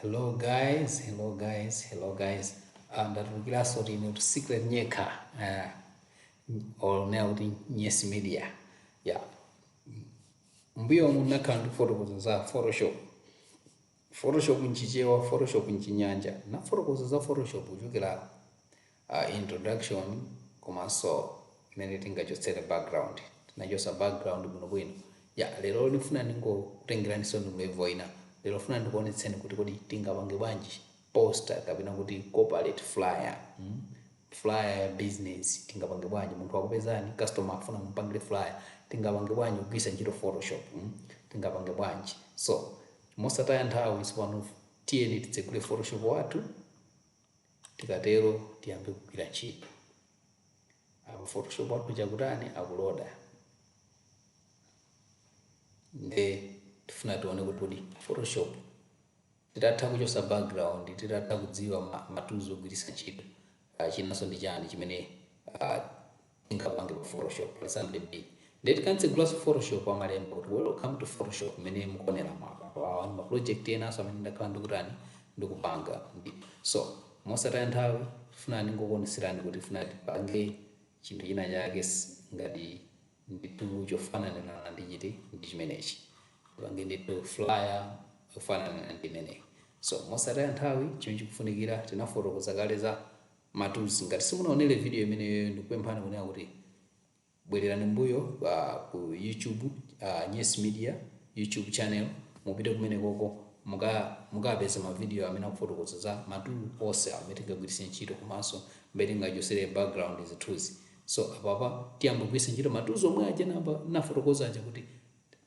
hello guys hello guys hello guys Ah, ndatulukiranso tine kuti secret nyekha uh, or nea kuti nyesi media yeah M'mbuyomu nakhala ndikufotokoza za Photoshop. Photoshop m'Chichewa, Photoshop m'Chinyanja. Nafotokoza za Photoshop kuchokera uh, introduction komanso mmene tingachotsere background. Tinachotsa background bwinobwino. Ya, lero ndifuna ndingokutengeraniso ndi level ina. Lero funa ndikuonetseni kuti kodi tingapange bwanji poster kapena kuti corporate flyer. Mm? flyer ya business tingapange bwanji munthu akupezani customer akufuna mumpangire flyer tingapange bwanji kugwirisa ntchito photoshop mm? tingapange bwanji so mosataya nthawi tsopano tiyeni titsegule photoshop wathu tikatero tiyambe kugwira ntchito apa photoshop wathu chakutani akuloda nde tifuna tione kuti photoshop Titatha kuchosa background, titatha kudziwa ma tools ogwiritsa ntchito, chinanso ndi chani chimene tingapange pa photoshop pa Sunday. Ndiye tikamtsegula photoshop amalemba kuti welcome to photoshop mmene mukuoneramu apapo. Awa ndi ma project enanso amene ndakhala ndikutani ndikupanga ndi. So mosataya nthawi ndifuna ndingokuonetserani kuti tifuna tipange chinthu china chake ngati ndithu chofanana ndi chiti ndi chimenechi tipange ndithu flyer yofanana ndi imeneyi so mosataya nthawi chimene chikufunikira tinafotokoza kale za matools ngati simunaonere video imeneyo ndikupemphani kunena kuti bwererani mbuyo pa ku youtube uh, nyes media youtube channel mupite kumene koko muka- mukapeza mavidiyo amene akufotokoza za matool onse amene tingagwiritse ntchito komanso mmene tingachosere background zithunzi So apapa tiyamba kugwiritsa ntchito ma tools omwe aja nafotokoza aja kuti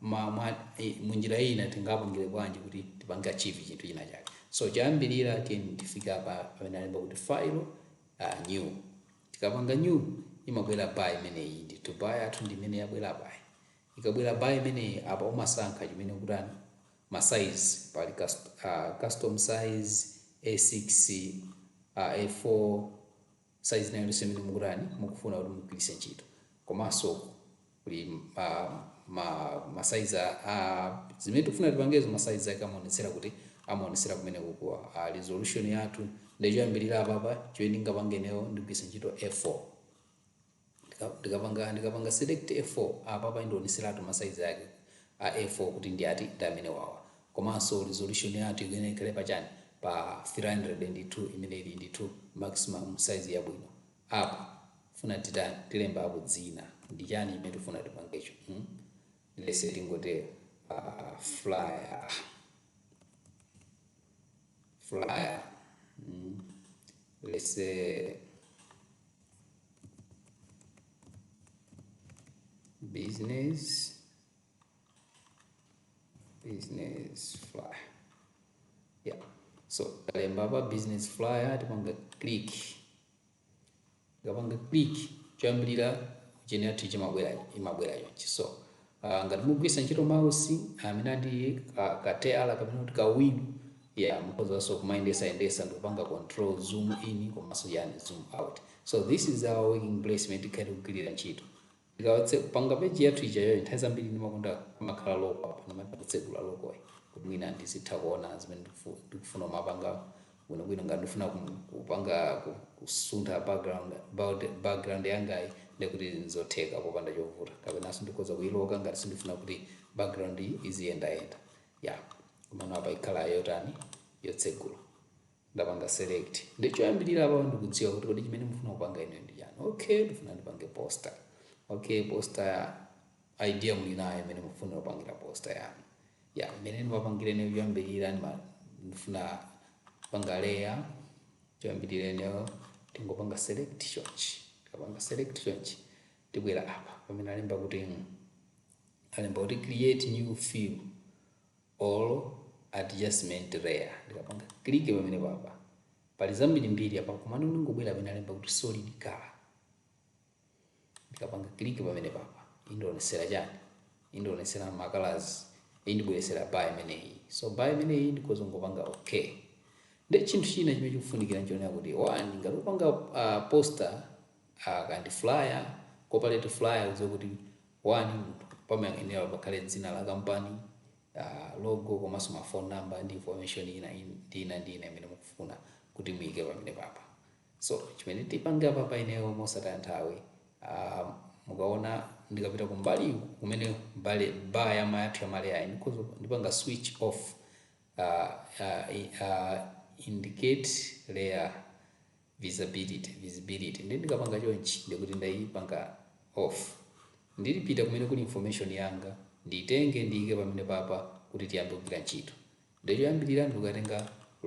ma, mwa, i, munjira ina tingapangire bwanji kuti tipange achieve chinthu china chake. So choyambirira tiyeni tifike apa pamene alemba kuti file uh, new. Tikapanga new imabwera bar imeneyi ndithu bar yathu ndi imene yabwera bar. Ikabwera bar imeneyi apa umasankha chimene ukutani ma size pali cust, uh, custom size A6 uh, A4 size ina iliyonse imene mukutani mukufuna kuti mugwiritse ntchito komanso kuli ma, ma, ma size a- a zimene tikufuna tipangezo ma size ake amaonetsera kuti amaonetsera kumene kukuwa a resolution yathu nde choyambirira apapa chimene ndingapange ineyo ndigwiritsa ntchito a4 Ndika- ndikapanga ndikapanga select a4 apa apa indioneseratu masaizi ake a a4 kuti ndi ati ndi amene wawa komanso resolution yathu ikuyenera ikhale pa chani pa 302 imene ili ndithu maximum size yabwino apa funa titani tilemba apo dzina ndi chani imene tifuna tipangecho hmm? let's say tingotero uh, flyer flyer mm. let's say business business flyer yeah so talemba pa business flyer tipanga click tikapanga click choyambirira kucheneratu chimabwera chimabwera chonchi so Ah, ngati mugwiritsa ntchito mouse amene ah, ndi ka, ka teyala kapena kuti ka wheel yeah mukhozanso kumayendesa yendesa ndikupanga control zoom in komanso yani zoom out so this is our working place imene tikhale tikugwirira ntchito tika- tikapanga peji yathu ijayo nthawi zambiri ndimakonda kumakhala loko apa ndimati kutsegula lokoyi kuti mwina ndizitha kuona zimene ndikufu- ndikufuna kumapanga bwinobwino ngati ndifuna kupanga kusuntha background yangayi ndekuti nzotheka popanda chovuta kapenanso ndikhoza kuyiloka ngati sindifuna kuti background iziyendayenda yeah komano apa ikhala yotani yotsegula ndapanga select ndi choyambirira apa ndikudziwa kuti kodi chimene mufuna kupanga ine ndi chani okay ndifuna ndipange poster okay poster idea muli nayo imene mufuna kupangira poster yanu yeah mmene ndimapangira ine choyambirira ndima- ndifuna kupanga layer choyambirira ineyo tingopanga select chonchi tikapanga select chonchi tibwera apa pamene alemba kuti mm, alemba kuti create new fill or adjustment layer ndikapanga click pamenepapa pali zambirimbiri apa komano ndingobwera pamene alemba kuti solid color ndikapanga click pamenepapa indionesera chani indionesera makalazi indibweresera bar imeneyi so bar imeneyi ndikhoza ngopanga okay ndi chinthu china chimene chikufunikira nchonena kuti one ngati upanga uh, poster uh, kandi flyer corporate flyer udziwe kuti one pamayenera pakhale dzina la kampani uh, logo komanso mafone number ndi information ina ndina ndina imene mukufuna kuti muyike pamenepapa So chimene tipange apapa ineyo mosataya nthawi ah, mukaona ndikapita kumbali kumene mbali bar yamayathu ya ma layer-yi ndikhoza kuyipanga switch off ah, ah, i- ah, indicate layer visibility visibility ndi ndikapanga chonchi ndikuti ndayipanga off nde ndipita kumene kuli information yanga nditenge ndiyike pamenepapa kuti tiyambe kugwira ntchito Nde choyambilira ndikukatenga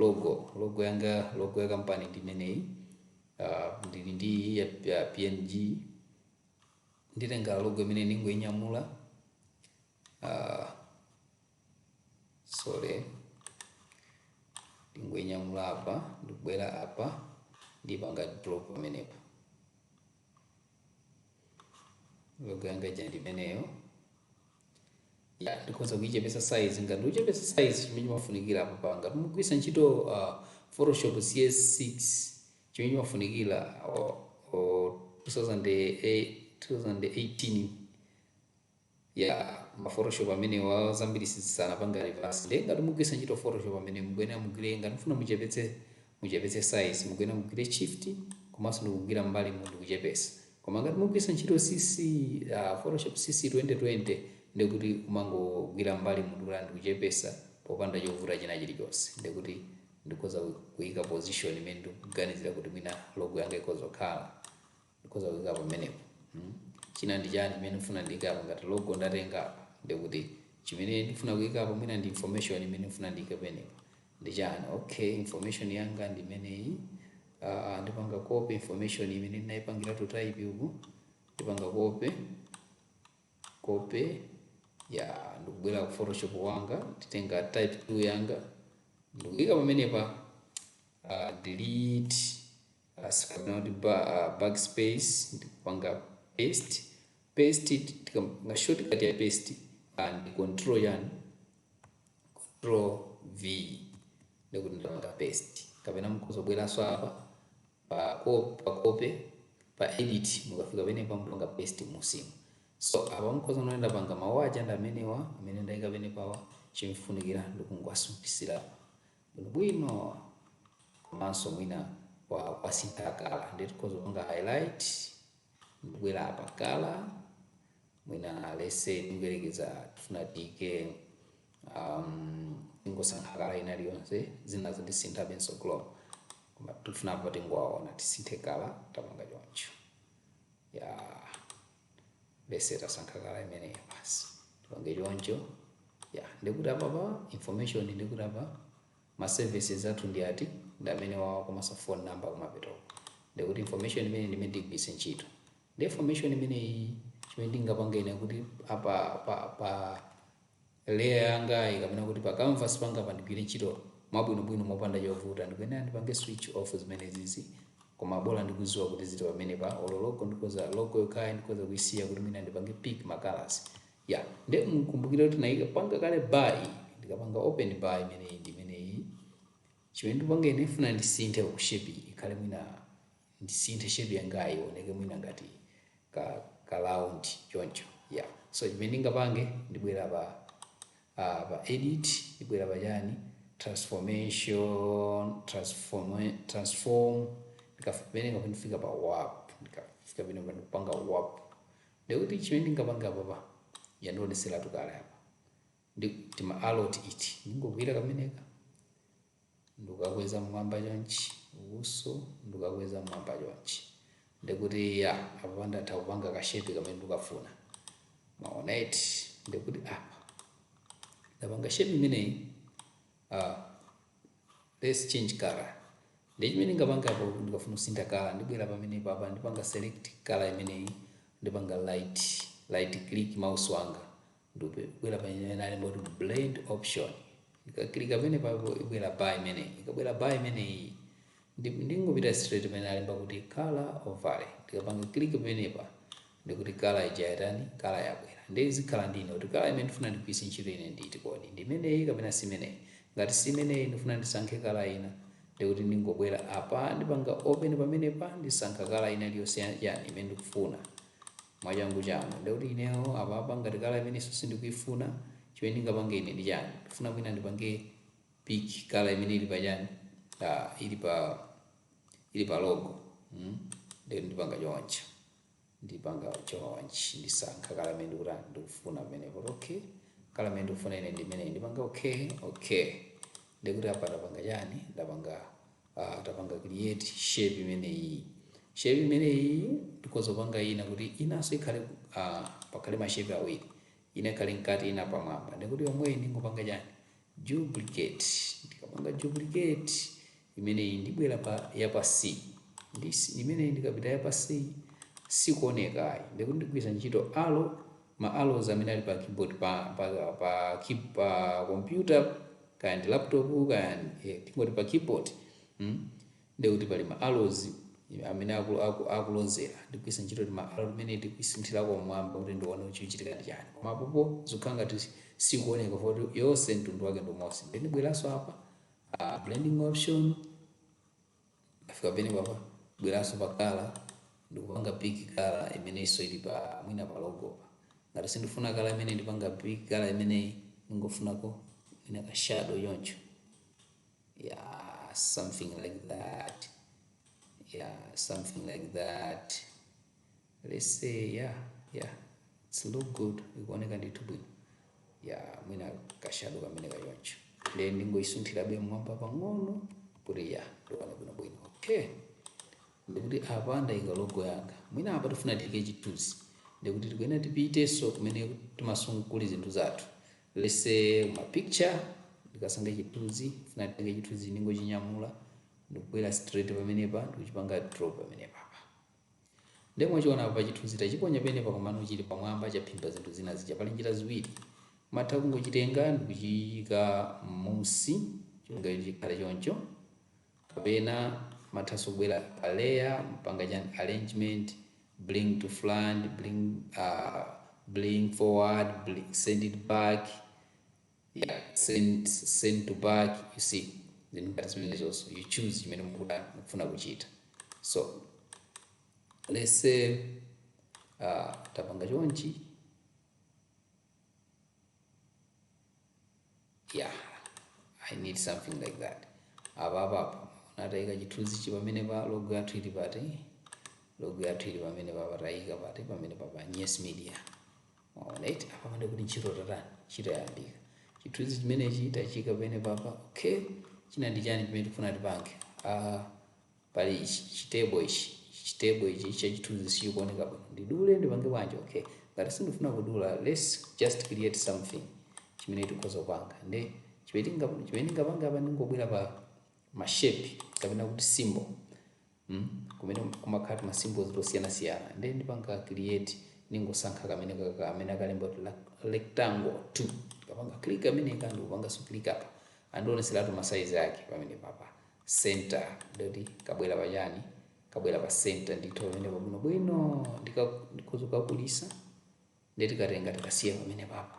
logo, logo yanga logo ya kampani ndi imeneyi uh, ndili ndi iyi ya, ya PNG nditenga logo imeneyi ndingoinyamula uh, sorry ndingoinyamula apa ndikubwera apa ndipanga drop pamenepa logo yanga ija ndi imeneyo ya ndikhoza kuichepesa size ngati ndichepesa size chimene chimafunikira apapa ngati mugwiritsa ntchito uh, photoshop cs6 chimene chimafunikira uh, uh, 2008 2018 ya ma photoshop amenewa zambiri sizisanapange reverse ndiye ngati mugwiritsa ntchito photoshop amene mukuyenera mugwire ngati mufuna muchepetse muchepetse size mukuyenera mugwire shift komanso ndikugwira mbali mu ndikuchepesa koma ngati mugwiritsa ntchito cc uh, photoshop cc 2020 ndikuti umangogwira mbali mu ndikukula ndikuchepesa popanda chovuta china chilichonse ndikuti ndikhoza kuyika position imene ndikuganizira kuti mwina logo yanga ikhoza kukhala ndikhoza kuikapo pamenepo mm. china ndi chani chimene ndifuna ndiikapo ngati logo ndatenga apa ndikuti chimene ndifuna kuikapo mwina ndi information imene ndifuna ndiike pamenepo ndi chani okay information yanga ndi imeneyi uh, ndipanga copy information imene ndinaipangira to type uku ndipanga copy copy ya ndikubwera ku photoshop wanga nditenga type tool yanga ndikuika pamenepa uh, delete As kapena kuti ba, uh, backspace ndikupanga paste paste tikapanga shortcut ya paste uh, ndi control yani control v ndikuti ndapanga paste kapena mukhoza kubweranso apa pa copy pa copy pa edit mukafika penepa mupanga paste mmusimu so apa mukhoza kuona ndapanga mawu aja ndi amenewa amene ndayika penepawa chimfunikira ndikungowasungisira bwinobwino komanso mwina kwa kwasintha kala ndiye tikhoza kupanga highlight ndikubwera apa kala mwina let's say tingoyerekeza tifuna tiike um, tingosankha kala ina iliyonse zinazo ndisinthabenso color koma tifuna apa tingowaona tisinthe kala tapanga choncho ya yeah. let's say tasankha kala imeneyo basi tipange choncho ya ndikuti apa pa information ndikuti apa ma services athu ndi ati ndi amenewawa komanso phone number kumapetoko ndikuti information imene ndi imene ndigwiritse ntchito nde information imeneyi chimene ndingapange ine kuti apa pa, pa Layer yangayi kapena kuti pa canvas panga pa ndigwire ntchito mwabwinobwino mopanda chovuta ndikuyenera ndipange switch off zimenezizi koma bola ndikuziwa kuti zili pamenepa olo logo ndikoza logo yokhayi ndikoza kuisiya kuti mwina ndipange pick ma colors ya nde mukumbukire kuti ndaikapanga kale bar iyi ndikapanga open bar imeneyi ndi imeneyi chimene ndingapange ine ndifuna ndisinthe kuti shape iyi ikhale mwina ndisinthe shape yangayi ioneke mwina ngati ka round choncho yeah so chimene ndingapange ndibwera pa uh, pa edit ndibwera pa chani transformation transform transform ndikafika ndifika pa warp ndikafika pene ndipanga warp ndekuti chimene ndingapanga apapa yandioneseratu kale apa ndi tima arrow iti ndingogwira kameneka ndikukakweza mmwamba chonchi ukuso ndikukakweza mmwamba chonchi ndekuti ya apa ndatha kupanga ka shape kamene ndikafuna mwaona eti ndekuti apa ndapanga shape imeneyi uh, let's change color nde chimene ndingapanga apo ndikafuna kusintha color ndibwera pamene papa ndipanga select color imeneyi ndipanga right right click mouse wanga ndibwera pamene alemba kuti blend option ndikaklika pamene papo ibwera bar imeneyi ikabwera bar imeneyi ndi- ndingopita straight pamene alemba kuti color overlay ndikapanga click pamenepa ndekuti kala ija yatani kala yabwera ndiye izikhala ndine kuti kala imene ndifuna ndigwiritse ntchito ine ndi iti kodi ndi imeneyi kapena si imeneyi ngati si imeneyi ndifuna ndisankhe kala ina ndekuti ndingobwera apa ndipanga open pamenepa ndisankha kala ina iliyonse ya- yani imene ndikufuna mwa kufuna kwanu. Ndiye kuti ineyo apapa ngati kala imeneyinso sindikuifuna, chimene ndingapange ine ndi chani? Ndikufuna mwina ndipange pick kala imene ili pa chani? Uh, ili pa ili pa logo. Mm? Ndiye ndipanga choncho. Ndipanga chonchi ndisankha kala imene ndikuti ndikufuna pamenepo. Okay. Kala imene ndikufuna ine ndi imeneyi ndipanga okay, okay. Ndiye kuti apa ndapanga chani? Ndapanga uh, tapanga create shape imeneyi shape imeneyi ndikhoza kupanga ina kuti inanso ikhale uh, pakhale mashape awiri ina ikhale mkati ina pamwamba ndekuti yomweyi ndingopanga chani duplicate ndikapanga duplicate imeneyi ndibwera pa yapansi ndi imeneyi ndikapita yapansi sikuonekayi ndekuti ndigwiritsa ntchito arrow ma arrows amene ali pa keyboard pa pa pa key pa computer kaya ndi laptop kaya eh, tingoti pa keyboard mm? ndiye kuti pali ma arrows amene aku- aku- akulozera ndigwiritsa ntchito tima arrow timene ndikuisunthirako mmwamba kuti ndione kuti chikuchitika ndi chani koma apopo zikukhala ngati sikuoneka poti yonse mtundu wake ndi umodzi nde ndibweranso apa ah, blending option Ndafika pene papa ndibweranso pa kala ndikupanga pick kala imenenso ili pa mwina pa logo pa. Ngati sindifuna kala imeneyi ndipanga pick kala imeneyi ndingofunako mwina ka shadow choncho. Yeah, something like that. Yeah, something like that. let's say yeah yeah it's look good ikuoneka ndithu bwino ya mwina kashado kameneka choncho then ndingoyisunthirabe mmwamba pang'ono kuti ya ndione bwino bwino okay ndikuti apa ndayika logo yanga mwina apa tifuna tiyike chithunzi ndikuti tikuyenera tipitenso kumene timasungako zinthu zathu let's say ma picture ndikasankha chithunzi funa titenge chithunzi ndingochinyamula ndikubwera straight pamenepa ndikuchipanga drop pamenepa Nde mwachiona apa chithunzi tachiponya penepa komano chili pamwamba chaphimba zinthu zina zija. Pali njira ziwiri. Matha kungochitenga ndikuchiika mmusi chonga kuti chikhale choncho. Kapena mathanso kubwera pa layer mpanga chani arrangement, bring to front, bring uh bring forward, send it back. yeah send send to back you see then ngati zimenezonso you choose chimene mukuda mukufuna kuchita so let's say uh, tapanga chonchi yeah i need something like that apa apapo natayika chithunzichi pamene pa logo yathu ili pati logo yathu ili pamenepapa tayika pati pamenepapa yes media Alright apapa nde kuti ntchito yatani ntchito yayambika chithunzi chimenechi tachiika pamenepapa okay china ndi chani chimene tikufuna tipange ah pali ichi chitebo ichi chitebo ichi cha chithunzi sichikuoneka bwino ndidule ndipange bwanji okay ngati sindifuna kudula let's just create something chimene tikhoza kupanga nde chimene tinga- chimene ndingapange apa ndingobwera pa mashape kapena kuti symbol mm kumene kumakhala tima symbols tosiyanasiyana ndiye ndipanga create ningosankha kamenekaka kamene akalemba kuti lak- rectangle 2 kapanga click kameneka ndikupanga so click apa andioneseratu ma size ake pamenepapa center nde kuti kabwera pachani kabwera pa center ndithu pamenepa bwino bwino ndika- ndikhoza kukakulisa ndiye tikatenga tikasiya pamenepapa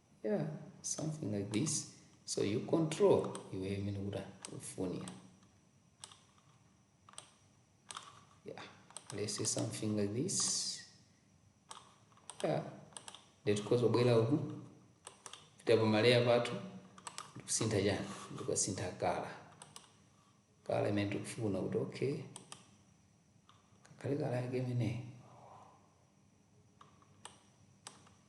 yeah something like this so you control iweyo imene kuti ukufunira yeah let's say something like this yeah nde tikhoza kubwera uku pita pa maleya pathu ndikusintha chani ndikasintha kala kala imene tikufuna kuti okay kakhale kala yake imeneyi